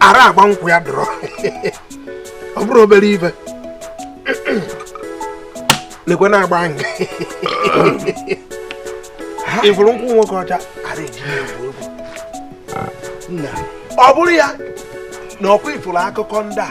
ara agba nkwụ ya dọrọ ọ bụrụ obere ibe lekwe na-agba nga ịfụrụ nkwụ nwoke ọcha ara eji egwu egwu ọ bụrụ ya na ọkwa ị fụrụ akụkọ ndị a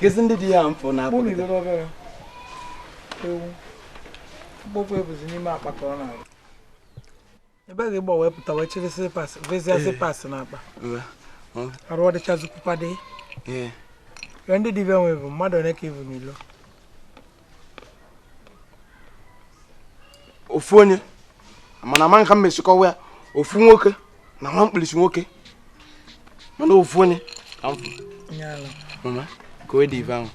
kezi ndị dị ya mfụ na akpụ ewu mkpokwu ebuzi n'ime akpa ka ọ na-arụ ebe gị gba wepụta wee chịrị slippers vezie slippers na akpa arụ ọdịchazikwu kwadee ndị dibịa nwe bụ mmadụ ole ka ibu n'ilo ofu onye mana ama nka m mesị kọwa ya ofu nwoke na nwa mkpirisi nwoke mana ofu onye mama ka o dị ife ahụ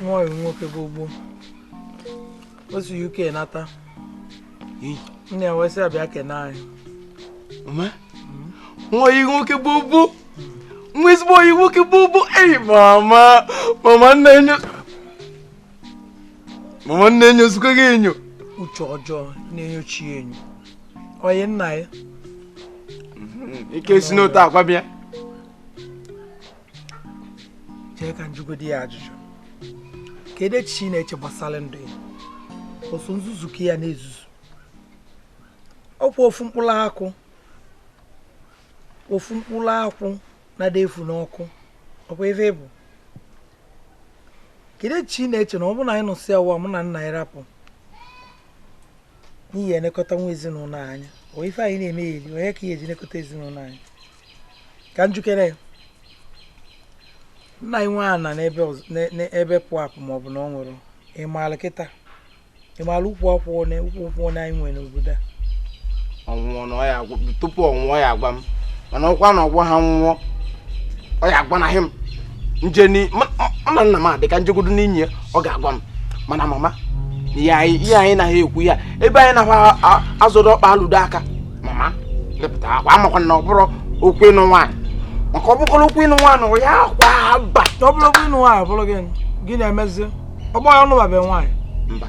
nwa nwoke bụ ugbo o si uk nata nne ya wee sị abịa kene anyị nwa oyi nwoke gbogbo nwa ezigbo oyi nwoke gbogbo eyi mama mama nne enyo mama nne enyo zukọ gị enyo uche ọjọọ na-enyochi enyo onye nna ya ike si n'otu akwa bịa chee ka m jụgodi ya ajụjụ kedu echiche ị na-eche gbasara ndụ ya ọ bụ nzuzu ka ya na-ezuzu ọkwa ofu mkpụrụ akwụ ofu mkpụrụ akwụ na ada efu n'ọkụ ọkwa ebe bụ kedu echiche ị na-eche na ọ bụrụ na anyị nọsịa ụwa mụ na nna ya rapụ onye ya-elekọta nwa ezinụlọ anyị onye ife anyị na-eme ya eli onye ka ihe eji elekọta ezinụlọ anyị ka m jụkene ya nna i nwe ana n'ebe ọz- n'e- n'ebe pụ apụ ma ọ bụ na ọ nwụrụ ị maara kịta ị maara ukwu akwụ one ukwu nkwụ one anyị nwere n'obodo a ọ nwụọ na ọ ya agwa tupu ọ nwụọ ya agwa m mana ọkwa na ọgwa ha nwụọ ọ ya agwanahị m nje ni m na nna m adị ka njegodo n'inyi ya ọ ga-agwa m mana mama ihe anyị ihe anyị naghị ekwu ya ebe anyị naghị azọdo ọkpa alụdo aka mama pụtakwa makwa na ọ bụrụ okwu ịnụ nwaanyị maka ọ bụkwara okwu ịnụ nwaanyị ọ ya kwa aba ọ bụrụ okwu ịnụ nwaanyị ọ bụrụ gịnị gị na-emezi ọgbọ ya anụbabe nwaanyị mba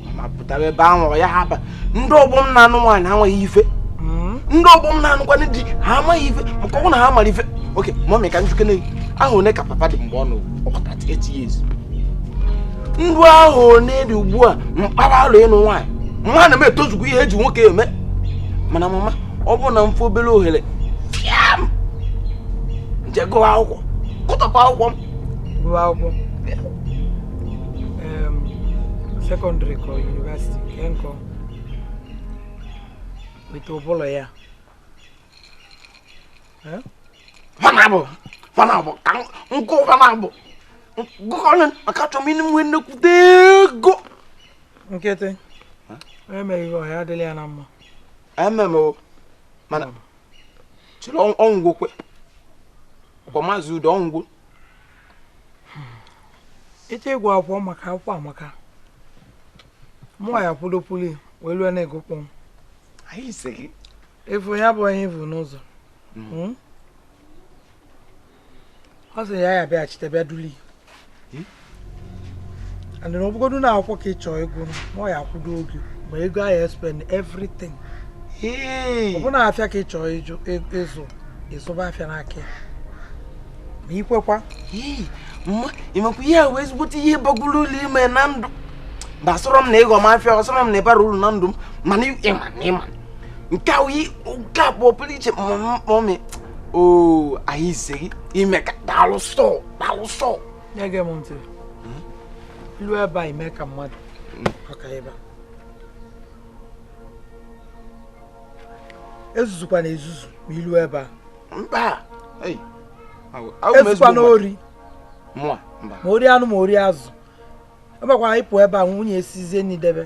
mama pụta ebe ahụ ọ yaha aba ndị ọgbọ m na-anụ nwaanyị amaghị ife hmm? ndị ọgbọ m na-anụkwanụ di ha amaghị ife ka ọ wụ na ha mara ife oke mọmị ka m jụkene ahọ one ka papa dị mgbe ọ nọ ọkọta tiketi ya ezu ndụ ahọ one dị ugbu a mkpara alụ ịnụ nwaanyị mana m etozugo ihe eji nwoke eme mana mama ọ bụrụ na m fụ obere ohere fiam m jee gụọ akwụkwọ ka m top up akwụkwọ m gụọ akwụkwọ sekọndịrị ka yunivesiti nke nkọ weta ụbụlọ ya fa naabọ fa naabọ ka m gụ fa naabọ gụkọrọ maka achọ m ịnụ nwe nnekwute ego nkịtị emeghị ọhịa adịla ya na mma ememe o mana chịrị ọnwụgwokwe kwa maazị Udo ọ nwụgo ị chọ ịgụ akwụkwọ maka akwụkwọ amaka mụnwa ya kwudopụli wee lụọ na ego kpọm efu ya bụ onye ivu n'ụzọ hmm. Hmm? ọ sị ya ya bịaghachite bịa duli hmm? and na ọ bụgodu na akwụkwọ ka ị chọọ ịgụ mụ ya-akwụdo gị ma ego ahụ e spend everything ọ bụ na afịa ka ị chọọ ịzụ ị zụba afịa n'aka ya ma ikwekwa mma ịmakwa ihe a wee ezigbote ihe bagoro uru i me na ndụ mba ọ sọrọ m na ị ghọ m afịa ọ sọrọ m na ị bara uru na ndụ m mana ịma na ịma nke a wee nke a kpọọ pụrụ iche mọmị oo anyị ise gị imeka daalụ sọọ daalụ sọọ nye gị m ntị i lu ebe a i mee ka mmadụ maka ebe a ezuzukwana ezuzu ma i lu ebe a mba ezukwana ori ma ori anụ ma ori azụ ebekwa anyị pụọ ebe a nwunye esizie nni debe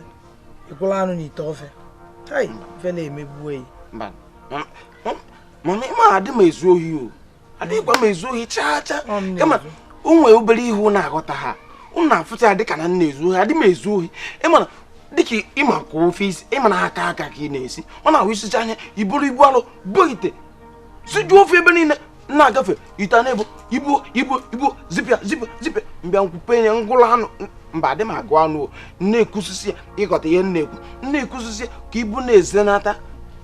ị gụlụ anụ n'ite ofe tai ife na-emegbuo ya mana ịma adị m ezu ohi o adịghịkwa m ezu ohi chaa chaa kama o nwee obere ihe unu aghọtaha unu na-afụcha ya dịka na m na-ezu ohi adị m ezu ohi ị ma na dịka ịma ka ofe i si ị ma na aka aka ka ị na-esi ọ na-abụ i sichaa ya i buru ibu alụ bụ ite sijuo ofe ebe niile na-agafe ite a na-ebu ibu ibu ibu zipịa zipịa zipịa m bịa m kpupe ya m gụrụ anụ mba adị m agụ anụ o na-ekwusisi ya ị ghọta ihe m na-ekwu m na-ekwusisi ya ka ibu na-ezenata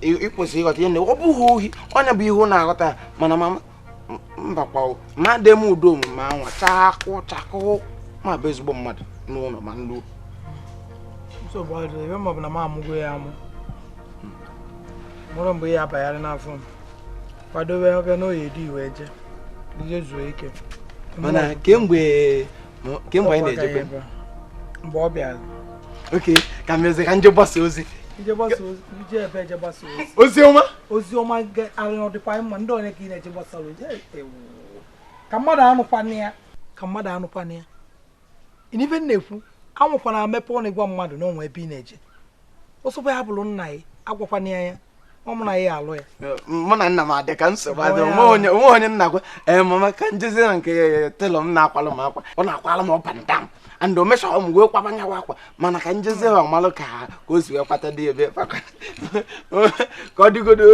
ị- ịkwụsị ị ghọta ihe m na-ekwu ọ bụghị ohi ọ nya bụ ihe unu aghọtaha mana mama mbakwa mmadụ eme udo omume anwa chakụ chakụ ma bụ ezigbo mmadụ n'ụnọ ma ndị nsogbu adịrị ebe maọbụ na m amụgo ya amụ mụrụ mgbe ya abanyarị n'afọ m kwadobe ọbịa n'oye dị iwe je ije zuo ike mana kemgbe kemgbe anyị na-ejebe mgbe ọ bịara okay ka m jezie ka m je gbasa ozi ozi ọma ozi ọma arịrị dịkwa mma ndị onye ka ị na-eje gbasara ozi ewu ka mmadụ anụkwana ya ka mmadụ anụkwana ya n'ife m na-ekwu anwakwana mepe ọnụ ịgwa mmadụ na o nwe ebe ị na-eje ọ sọkwa ya bụrụ nna ya agwakwana ya ya ọ mụ na ya alụ ya mụ na nna m adị ka nsogbu adị o nwe onye m na-agwa ee mama ka m jezi na nke tailor m na-akwalụ m akwa ọ na-akwalụ m up and down and o measure mụ wee kwaba nyawa akwa mana ka m jezi ga malụ ka o si wee kwata debe ka ọ dịgodo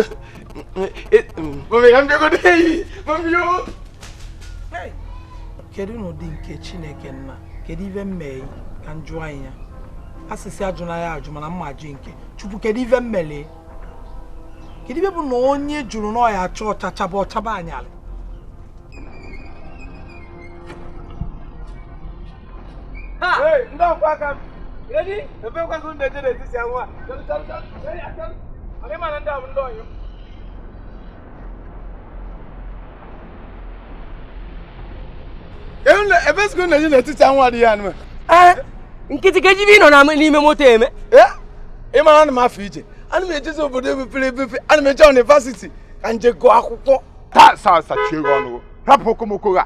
kedu n'ụdị nke chineke nna kedu ife m mee ka m jụọ anyị ya a sị sị ajụna ya ajụ mana m ma-ajụ nke chukwu kedu ife m melụ kedu ife bụ na onye jụrụ na ọ ya-acha ọcha chaba ọ chaba anyalị ndị ọkwa aka m edi ebe kwakọ ndị eje n'etiti anwụ a ị ma na ndị a bụ ndị ọyị ebe sikụ na-eje n'etiti anwụ adịghị anọ nkịtị ka ejibe ị nọ n'ime moto eme ị mara ana m afọ ije ana m ejezi obodo ebepere ebepe ana m eje university ka m je gụọ akwụkwọ taa saa sachie ọnụ rapụ okomoko a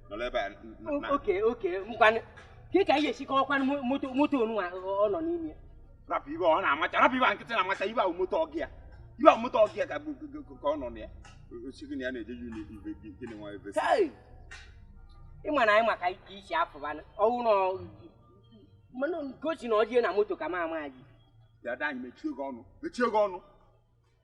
nọrọ ebe a okay okay ngwanụ kee ka anyị ga-esi kọwakwanụ moto moto onu ọ nọ n'ime rapụ ibe ọ na-amacha rapụ ibe nkịtị na-amacha ibe ahụ moto ọgị ya ibe ahụ moto ọgị ya ka ọ nọ na ya osighi na ya na-eje yun ibe gịnị nwa ebe ị ma na anyị maka ike isi afụbanụ ọwụ na mana gosi na ọ je na moto ka m ama gị dada anyị mechie gị ọnụ mechie gị ọnụ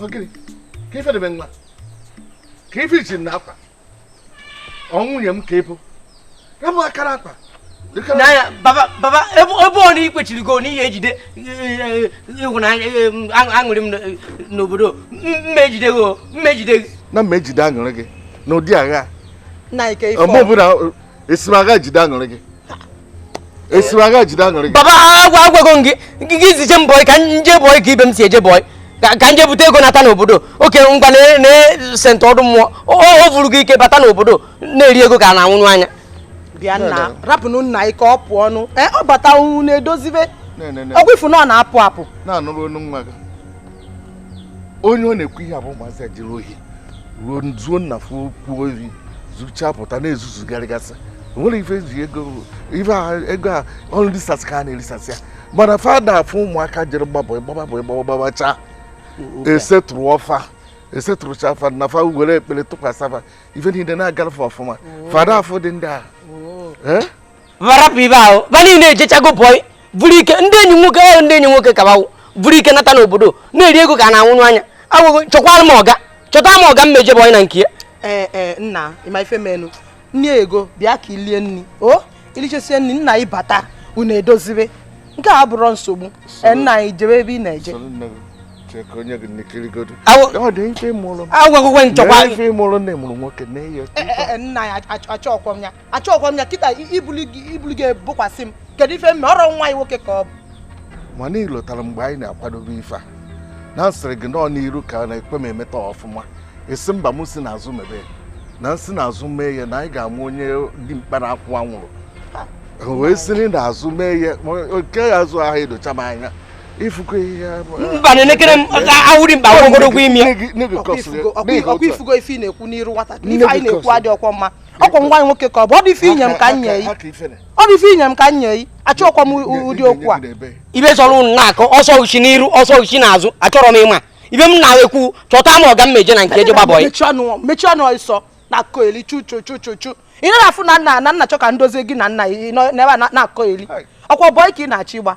ogiri ka ife debe nwa ka ife ichi na akwa ọ nwunye m ka ị bụ ya bụ akara akwa n'anya baba baba ebe ọ bụ na ị kwechirigo na ị ya-ejide ịhụnanya aṅụrị m n'obodo m ma-ejide gị m ma-ejide gị na m ma-ejide aṅụrị gị n'ụdị agha ọmụ ọbụla esi m aga jide aṅụrị gị esi m aga jide aṅụrị gị baba agwa agwago m gị gị gị zije m boy ka m je boy ka ibe m si eje boy ka ka m je bute ego nata n'obodo okay ngwa na- na sentị ọdụ mmụọ o o vuru gị ike bata n'obodo na-eri ego ka a na-anwụnụ anya bịa nna rapụnụ nna anyị ka ọ pụọ ọnụ ee ọ bata unu na-edozibe Na-enene. ọgwụ ị fụ na ọ na-apụ apụ na-anụrụ onu nwa gị onye ọ na-ekwu ihe abụ ụmụazị a jiri ohi ruo zuo nna fuo kwuo iri zuchaa pụta na-ezuzugharịgasị nwere ife eji ego ife a ego a ọrụ risasị ka a na-erisasị ya mana fa ada afụ ụmụaka jere gbaa bọị gbaba bọị gbaba gbabacha esetụrụọ fa esetụrụchaa fa na fa were ekpere tụkwasịa fa ife niile na-agara fa ọfụma fa ada afụdị ndị a oh. eh? va rapụ ibe ahụ ba niile ejechago bọị buru ike ndị enyi nwoke ahụ ndị enyi nwoke kabawo buru ike nata n'obodo na-eri ego ka a na-anwụnụ anya agwago m gị chọkwara m ọga chọta m ọga m eje bọị na nke ya ee ee nna ịma ife menụ nne ego bịa ka i lie nri o i lichasịa nri nna ị bata ụnọ e dozibe nke a bụrụ nsogbu ee nna anyị jebe ebe ị na-eje agwago m gị nchọkwa nna ya achọkwọ m ya achọghịkwa m ya kịta ibuli gị ebukwasị m kedu ife m mee ọ rọ nwa nwoke ka ọ bụ mana i lotara mgbe anyị na-akwadobe ife a na m sịrị gị nọọ n'iru ka a na-ekwe m emeta ọfụma ị sị mba m si n'azụ mebe na m si n'azụ mee ya na anyị ga-amụ onye dị mkpa na akwụ anwụrụ wee siri n'azụ mee ya oke azụ ahụ edocha m anya ị fụgo ihe mba na-elekere m awụri mba ogologo imi ọkwa ị fụgo ife ị na-ekwu n'iru nwata ife anyị na-ekwu adịrọkwa mma ọkwa nwa nwoke ka ọ bụ ọ dị ife i nye m ka m nye yi ọ dị ife i nye m ka m nye yi achọkwa m ụdị okwu a ibe chọrọ ụnụ na-akọ ọ sọ i shi n'iru ọ sọ i shi n'azụ achọrọ m ịma ife m na-ekwu chọta m ọga m jee na nke e je gbaa bọị mechie ọnụ ọsọ na-akọ eli chuchuchuchuchu ị na-afụ na nna na m na-achọ ka m dozie gị na-anọ n'ebe a na-akọ eli ọkwa bọị ka ị na-achọ ịgba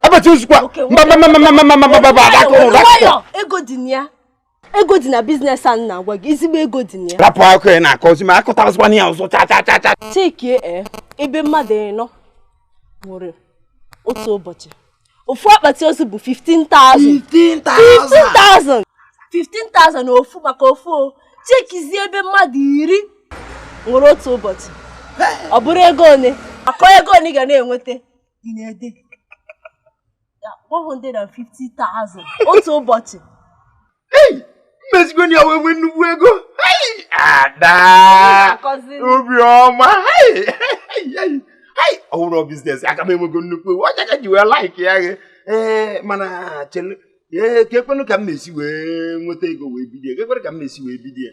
abachi ezigbo ego dị na ya ego dị na biznes a na-agwa gị ezigbo ego dị na ya rapụ akụ ya na-akọ ozi ma akọtarazikwana ya ọzọ cha cha cha cha chekie e, ebe mmadụ ịnọ nwere otu ụbọchị ofu akpati ozu bụ 15,000 15,000 15,000 na ofu maka ofu o chekizie ebe mmadụ iri were otu ụbọchị ọ bụrụ ego one akọ ego one ga na-enweta in a day 150,000 otu ụbọchị m esigo na ya wee nwee nnukwu ego ada obiọma ọ wụrụ biznes aka m enwego nnukwu ego ọ ya ka m ji wee like ya gị ee mana chelu ee keekwanụ ka m ga-esi wee nweta ego wee bido ya keekwanụ ka m ga-esi wee bido ya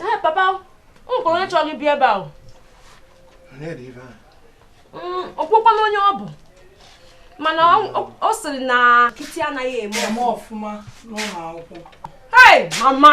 ee papa m kwụrụ onye chọrọ ibi ebe ahụ mm, ọkpụkpọna onye ọ bụ mana ọ sịrị na Kate anaghị eme ọfụma n'ụlọ akwụkwọ mama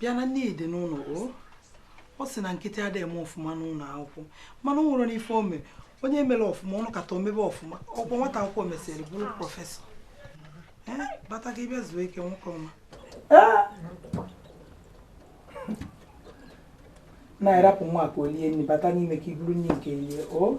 bịa na nne dị n'ụlọ o ọ sị na Kate adịghị eme ọfụma n'ụlọ akwụkwọ mana ọ nwere n'ife o mere onye mere ọfụma ọ nọkata o mebe ọfụma ọkwa nwata akwụkwọ mesịrị bụrụ prọfesọ bata gị bịa zuo ike nwoke ọma na-arapụ nwa ka o lie nri bata n'ime ka i buru nri nke rie o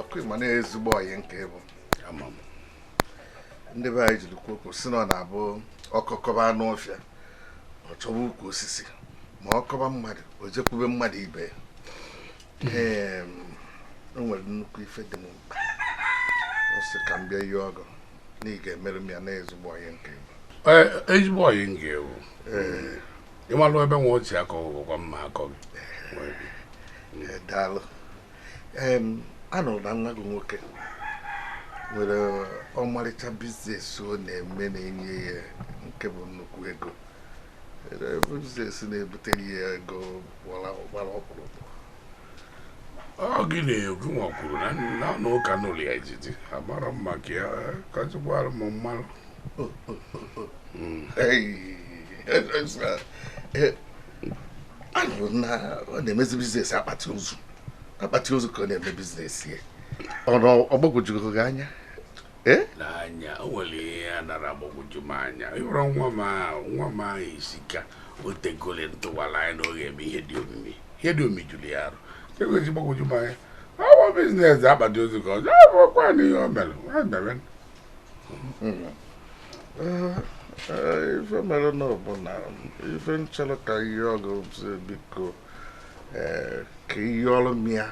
ọkwa ị ma na ezigbo ọyị nke ị bụ ndị be anyị jiri kwuo okwu sị na ọ na-abụ ọkọ kọba anụ ọfịa ọ chọwa ukwu osisi ma ọ kọba mmadụ o jekwube mmadụ ibe ya o nwere nnukwu ife dị m mkpa m sị ka m bịa yọọ gị na ị ga-emere m ya na ezigbo ọyị nke bụ ezigbo ọyị nke bụ ịmalụ ebe nwa o si akọ gị gwa m m akọọ gị eh, daalụ anụrụ m na nwa gị nwoke nwere ọmarịcha biznes ọ na-eme na-enye ya nke bụ nnukwu ego biznes na-ebutere ya ego gbara ọkpụrụkpụ ọ gị na-ekwu ma ọ kwuru na na na ụka n'ụlọ ya ejiji amara m maka ya kọchịkwara m mmanụ anụrụ m na ọ na-emezi biznes akpati ozu akpati ozu ka ọ na-eme biznes ya ọ na ọ gbagwojugo gị anya Eh? n'anya o nwere ihe a nara agbagwoju m anya ịhụrụ nwa m ahụ nwa m ahụ isi ka o tegole m tụwara anya na ọ ga-eme ihe dị omimi ihe dị omimi juru ya arụ egoji gbagwoju m anya ọwa biznes akpati ozu ka ọzọ ọkwa na ihe o mere ha mere ife mere nụ bụ na ife m chọrọ ka m yọọ gị sị biko ee ka ị yọọrọ m ya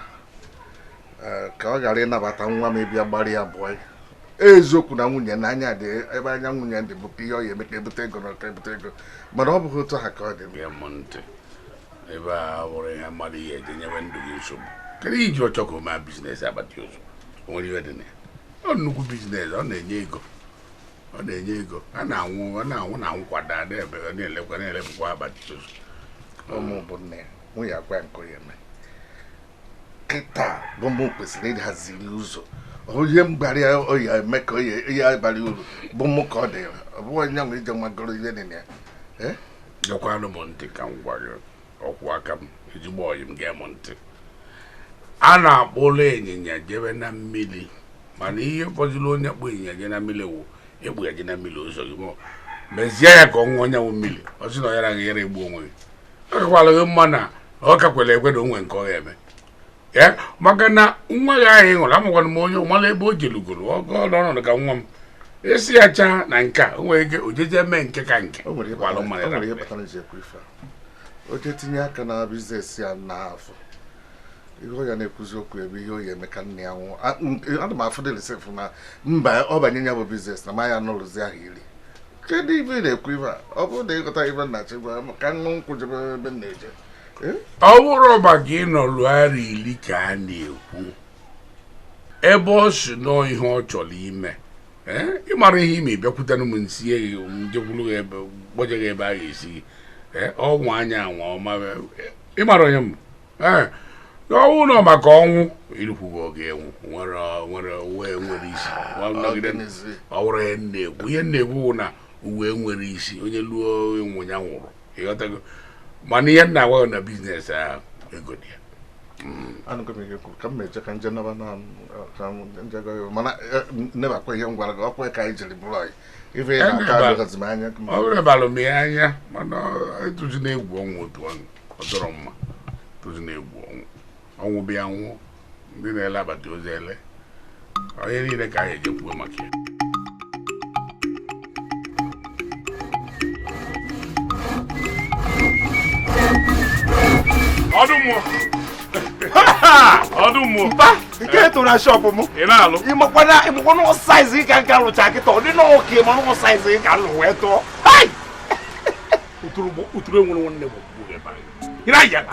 ee, ka ọ gbalị nabata nwa m ịbịa gbaara ya boyi eziokwu na nwunye na anya dị ebe anya nwunye dị bụ ihe ọ ya eme ka ebute ego na ka ebute ego mana ọ bụghị otu ha ka ọ dị bịa m ntị ebe a wụrụ ihe mmadụ ihe i ji enye onwe gị nsogbu kedu ihe i ji achọ ka o mee biznes akpati ozu o nwere ihe dị na ya ọ nnukwu biznes ọ na-enye ego ọ na-enye ego a na-anwụ ọ na-anwụ na anwụ kwa daa ebe ọ na-elekwa na-elepụkwa abalị tutu ụmụ bụ nne ya nwunye agwa ya nke onye mee kịta bụ mụ kwesịrị ịhaziri ụzọ onye mgbara ya oyi eme ka oyi ihe abalị uru bụ mụ ka ọ dị ọ bụghị onye nwe ije o nwegoro ihe dị na ya Eh? gekwanụ m ntị ka m gwa gị ọkwụ aka m ezigbo ọyị m gee m ntị a na-akpụrụ ịnyịnya jebe na mmiri mana ihe fọdụrụ onye kpụ ịnyịnya je na mmiri wụ ịkpụ ya je na mmiri ụzọ gị mọ mezie ya ka ọ ṅụọ nyanwụ mmiri ọ sị na ọ yara gị yara egbu onwe gị ọ kakwara gị mma na ọ kakwere ekwe na o nwere nke ọ ga-eme ya maka na nwa gị ahụ ị hụrụ amakwana m onye mara ebe o jelugoro n'ọnọdụ ka nwa m esi acha na nke a o nwere ike ojeje mee nke ka nke o nwere ihe kwalụ mmadụ kpatara- o nwere ihe na- kpatara ji ekwu ife a. o jee tinye aka na biznes ya na afọ ihe ọ ya na-ekwuzi okwu ebe ihe o ya eme ka nne ya nwụọ A- nke- ana m afụ dịrị sef na mba ọ banye ya bụ biznes na ma ya nọruzi ahọ iri kedu ife ị na-ekwu ife a ọ bụrụ na ịghọta ife nna chi gwa m ka nṅụ nkwụ jebe ebe m na-eje ọ bụrụ maka ịnọlu arọ ili ka a na-ekwu ebe ọ si nọọ ihe ọ chọrọ ime ee ịmara ihe i me bịakwutere m nsie gị njekwuru gị ebe gbaje gị ebe a ga-esi gị ee ọnwa anya anwa ọma ịmara onye m ee n'ọnwụ nọ maka ọnwụ irukwughị oge ịnwụ nwere nwere ụwa nwere isi nọgide ọ wụrụ ihe m na-ekwu ihe m na-ekwu wụ na ụwa nwere isi onye luo ịnwụ ya nwụrụ ịghọtago mana ihe m na-agwa gị na biznes ahụ ego dị ya anụgo m ihe i kwuru ka m meje ka nje naba na ka m nje gwa ya mana nebakwa ihe m gwara gị ọkwa ka anyị jiri bụrụ anyị ife ị na-aka Eneba. adịghịzi m anya ka m- ọ bụrụ balụ m ya anya mana atụzina egwu ọnwụ otu ọnụ ọ dịrọ mma atụzina egwu ọnwụ ọnwụ bịa nwụọ ndị na-ele akpati ozu ele onye niile ka anyị eje kwuo maka ya ọdụ mmụọ ọdụ mmụọ mba nke e tụrụ na shọpụ m ị na-alụ ịmakwana ịmakwana ọ saiz gị ka nka lụcha kịta ọ dị na ọka ịma na ọ saiz gị ka lụ wee tụọ uturu enwere nwanne m ị na-ayala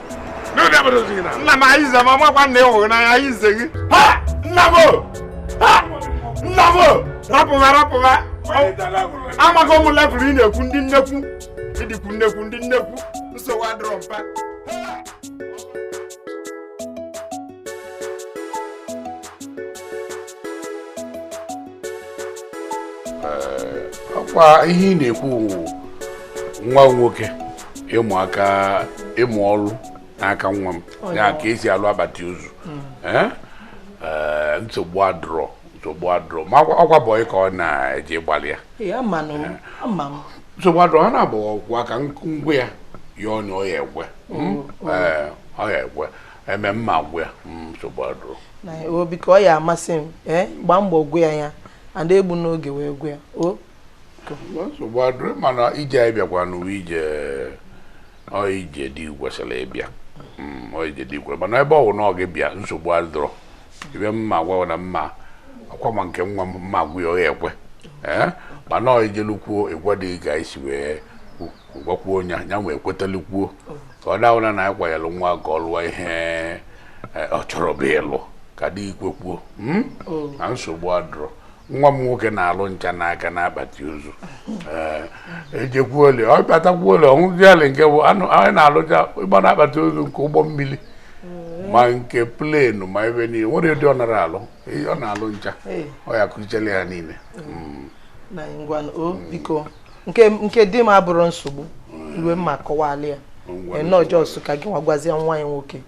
nna m anyị zama makwa nna ịhụghị n'anya anyị ize gị nna m nna m rapụba rapụba amaghị ụmụ levụl ị na-ekwu ndị nnekwu ịdịkwu nnekwu ndị nnekwu nsogbu adịrọ mpa ọkwa ihe ị na-ekwu nwa nwoke ịmụ aka ịmụ ọrụ n'aka nwa m ya ka esi alụ akpati ozu hmm. eh? Eh, nsogbu adụrọ nsogbu adụrọ ma ọkwa bọyị ka ọ na-eji gbalị ya eh. nsogbu adụrọ ha na-abụ ọgwụ aka ngwa ya ya ọnya ọ ya ekwe hmm? hmm. ọ ya ekwe eme m ma agwa ya nsogbu adụrọ biko ọ ya amasị m gbaa mbọ gwa ya ya ada egbu n'oge wee gwa ya nsogbu adịrọ mana ije anyị bịakwa n'uwe ije ọ ije dị kwesịrị ịbịa Mm, ọ ije dị kwesịrị mana ebe ọ bụ na ọ gị bịa nsogbu adịrọ ife m ma-agwa na mma akwa ma nke nwa m m ma-agwa ya ọ ya ekwe ee mana ọ ijelukwuo ịgwa dị ka anyị si wee kwu- gwakwuo onye ya wee kwetalụkwuo ka ọ dawụla na anyị kwanyere nwa ka ọ lụọ ihe eh, ọ chọrọ bụ ịlụ ka di gị kwekwuo mm? na nsogbu adịrọ nwa m nwoke na-alụ ncha n'aka n'akpati ozu ejekwuole ọ batakwuole ọṅụziali nke bụ anụ anyị na-alụcha ịgba n'akpati ozu nke ụgbọ mmiri ma nke plenu ma ebe niile nwere ụdị ọ nara alụ ọ na-alụ ncha ọ ya-akụzichara ya niile mm. biko nke di m abụrọ nsogbu ihe m ma-akọwalị ya nnọọ jọs ka gị nwa gwazie nwa gị nwoke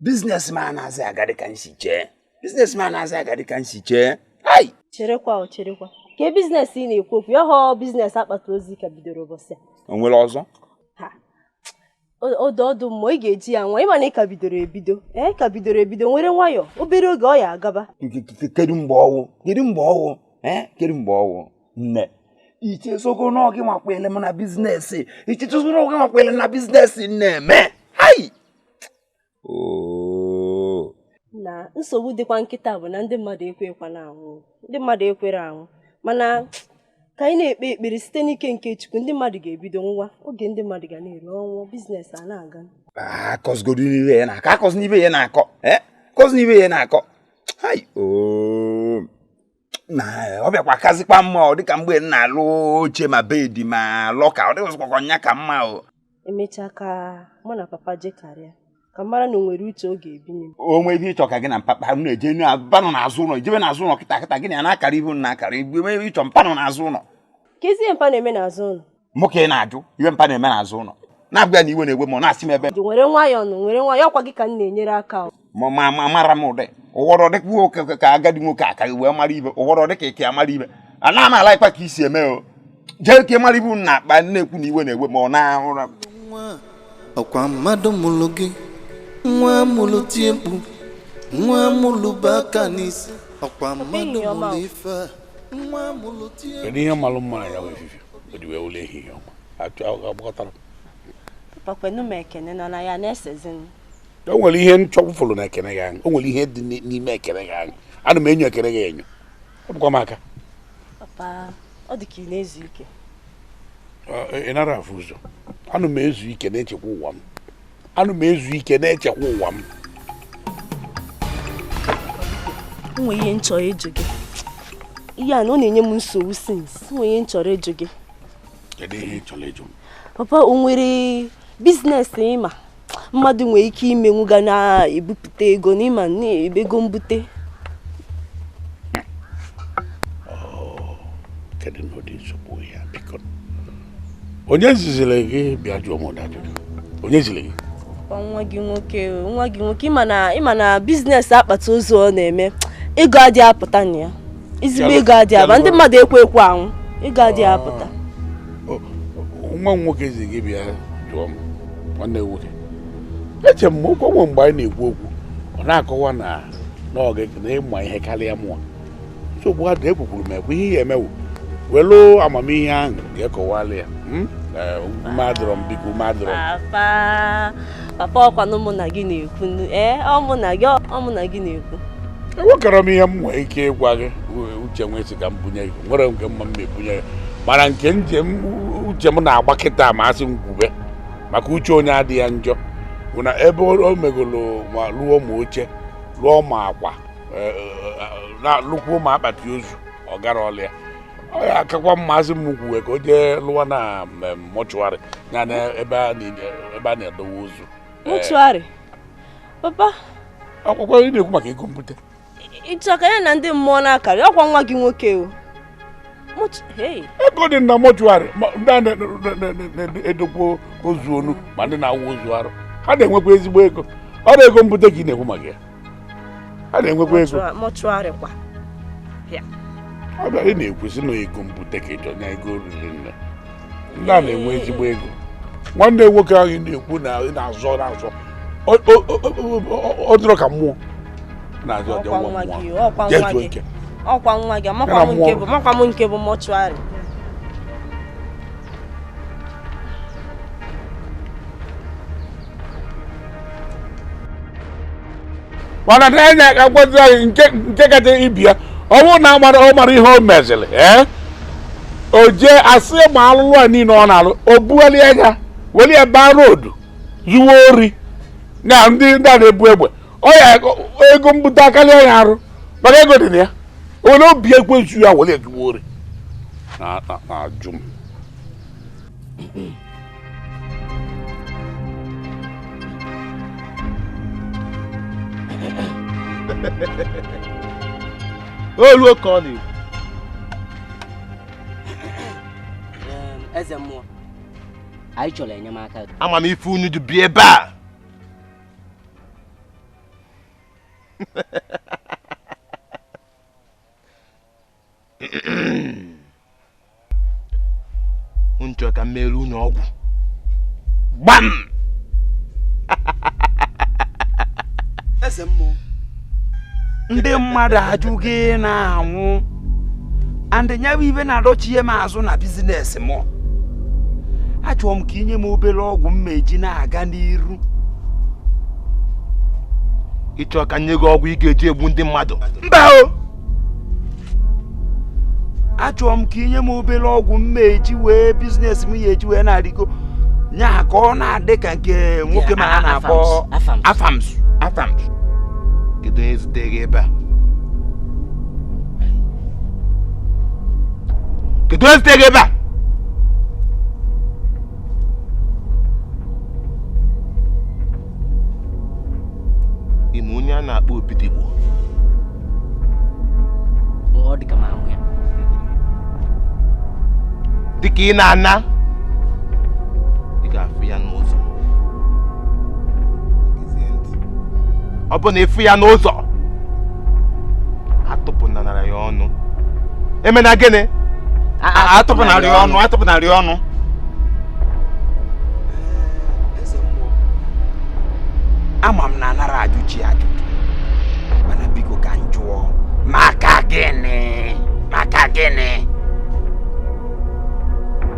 biznes m a anazị aga dịka m si chee biznes m a anazị aga dịka m si chee hai cherekwa o cherekwa kee biznes ị na-ekwu okwu ya ọ biznes akpati ozu ị ka bidoro ụbọchị a o nwere ọzọ ọ dị ọ dị mma ị ga-eji ya nwa ị ma na ị ka bidoro ebido ee ka bidoro ebido nwere nwayọ obere oge ọ ya agaba kedu mgbe ọ wụ kedu mgbe ọ wụ ee kedu mgbe ọ wụ nne i chezogo na ọ gị nwa kwele m na bizinesi i chezogo na ọ gị nwa kwele m na bizinesi m na-eme hai na nsogbu dịkwa kịta bụ na ndị mmadụ ekwekwa na anwụ ndị mmadụ ekwerọ anwụ mana ka anyị na-ekpe ekpere site n'ike nke Chukwu ndị mmadụ ga-ebido nwa oge ndị mmadụ ga na-eri ọnwụ biznes a na-aga akọzigodina ife ị na-akọ akọzina ife ị na-akọ akọzina ife ị na-akọ na ọ bịakwa kazikwa mma ọ dịka mgbe m na-alụ oche ma bedi ma lọka ọ dịzi ka ọ ya ka mma o emechaa ka mụ na papa je karịa ka m mara na o nwere uche ọ ga-ebinye m o nwee ihe ị chọ ka gị na mpapa m na-eje mpa nọ n'azụ ụlọ i jebe n'azụ ụlọ kịta kịta gị na ya na-akara ihu na akara ife ị chọ mpa nọ n'azụ ụlọ kezi ihe mpa na-eme n'azụ ụlọ mụ ka ị na-ajụ ihe mpa na-eme n'azụ ụlọ na-abịa na iwe na-ewe m na-asị m ebe nwere nwayọọ nụ nwere nwayọọ ọ kwa gị ka m na-enyere aka ma ma ma mara m ụdị ụwọrọ dịka nwoke ka agadi nwoke aka wee mara ife ụwọrọ dịka ike amara ife a na m alaikwa ka i si eme o jee ka mara ibu na akpa na-ekwu na iwe na-ewe m ọ na ụra ọ kwa mmadụ mụrụ gị nwa mụrụ tie mkpu nwa mụrụ bụ aka n'isi ọ kwa mmadụ mụrụ ife a kedu ihe malụ mma na ya wee fifi o ji wee wụlọ ehihie ọma achọ agbakọtara pa kwenụ m ekene nọ na ya na-esezi m o nwere ihe m chọfụrụ n'ekene gị ahụ o nwere ihe dị n'ime ekene gị ahụ ana m enyo ekene gị enyo ọ bụkwa m aka papa ọ dị ka ị na-ezu ike ị nara afụ ụzọ ana m ezu ike na-echekwa ụwa m ana m ezu ike na-echekwa ụwa m nwe ihe m chọrọ ịjụ gị ihe a na ọ na-enye m nsogbu since nwe ihe m chọrọ ịjụ gị kedu ihe ị chọrọ ịjụ m papa o nwere business ị ma mmadụ nwere ike imenwu ga na-ebupụta ego n'ịma na-ebe ego mbute oh, kedu na ụdị nsogbu ya biko onye ziziri gị bịa jụọ m ụdị ajụjụ onye ziri gị nwa gị nwoke nwa gị nwoke ị ma na business akpati ozu ọ na-eme ego adị apụta na ya izigbo ego adị aba ndị mmadụ ekwe ekwe anwụ ego adị apụta nwa m nwoke zi gị bịa jụọ m nwanne nwoke eche m ọkwa o nwe mgbe anyị na-ekwu okwu ọ na-akọwa na n'oge na ị ma ihe karịa mụwa nsogbu adị ekwukwuru m ekwu ihe ị ya-eme wụ welu amamihe ahụ ga kọwala ya hmm? eh, ume adịrọ m biko ume adịrọ papa ọkwanụ mụ na gị na-ekwu ee eh, ọ mụ na gị ọ mụ na gị na-ekwu enwekwarọ m ihe m nwee ike ịgwa gị uche nwee isi ka m bunye gị nwere nke mma m ebunye gị mana nke njem uche m na-agba kịta ma asị m kwube maka uche onye adị ya njọ bụ na ebe o megolo ma lụọ ma oche lụọ ma akwa na-alụkwu ụmụ akpati ozu ọ gara ọlụ ya ọ ya akakwa mma asị m kwuwe ka o jee lụwa na mortuary ya na ebe a na-edowe ozu mortuary papa ọkwọkwa ị na-ekwu maka ego mbute ị chọ ka ya na ndị mmụọ na-akarị ọkwa nwa gị nwoke o ego dị na mortuary ndị na-edokwa ozu ọnụ ma ndị na-awụ ozu arụ ha na-enwekwa ezigbo ego ọrọ ego mbute ka ị na-ekwu maka ya ha na-enwekwa ego ọ bụrọ ị na-ekwu sị na ego mbute ka ị chọ na ego riri nne ndị a na-enwe ezigbo ego nwanne nwoke ahụ na-ekwu na ị na-azọ na-azọ ọ dịrọ ka mmụọ na-azọ ọjọọ nwa mmụọ jee zuo ike ọkwa nwa gị makwa m nke bụ mortuary mana na enye aka gwazi anyị nke nke kacha ibi ya ọ bụrụ na amara ọ mara ihe o meziri ee o jee asị ma ọlụ a niile ọ na-alụ o bughali anya weli ya baa road zuwe ori na ndị ndị a na-ebu egbe ọ ya ego mbute akarịa ya arụ maka ego dị na ya onye obi ekwezu ya weli ya zuwe ori na-ajụ m olu oke ọ na-ekwu eze mmụọ anyị chọrọ enyemaka gị ama m ife unu ji bịa ebe a unu chọrọ ka m mere unu ọgwụ gbam eze mmụọ ndị mmadụ ajụ gị na-anwụ and ya bụ ihe na-adọchie m azụ na business m achọrọ m ka i nye m obere ọgwụ m ma-eji na-aga n'iru ị chọ ka m nye gị ọgwụ ị ga-eji egbu ndị mmadụ mba o achọrọ m ka i nye m obere ọgwụ m ma-eji wee business m ya eji wee na-arịgo nya ka ọ na-adị ka nke nwoke m a a na-akpọ Afams Afams kedu onye zite gị ebe a kedu onye zite gị ebe a ị ma onye a na-akpọ Obidigbo ọ dị ka m ahụ ya dịka ị na-ana ị ga-afụ ya n'ụzọ Gezie ntị. ọ bụ na ị fụ ya n'ụzọ atụpụnara ya ọnụ emena gịnị atụpụnara ya ọnụ atụpụnara ya ọnụ ama m na anara ajụ chi ajụjụ mana biko ka m jụọ maka gịnị maka gịnị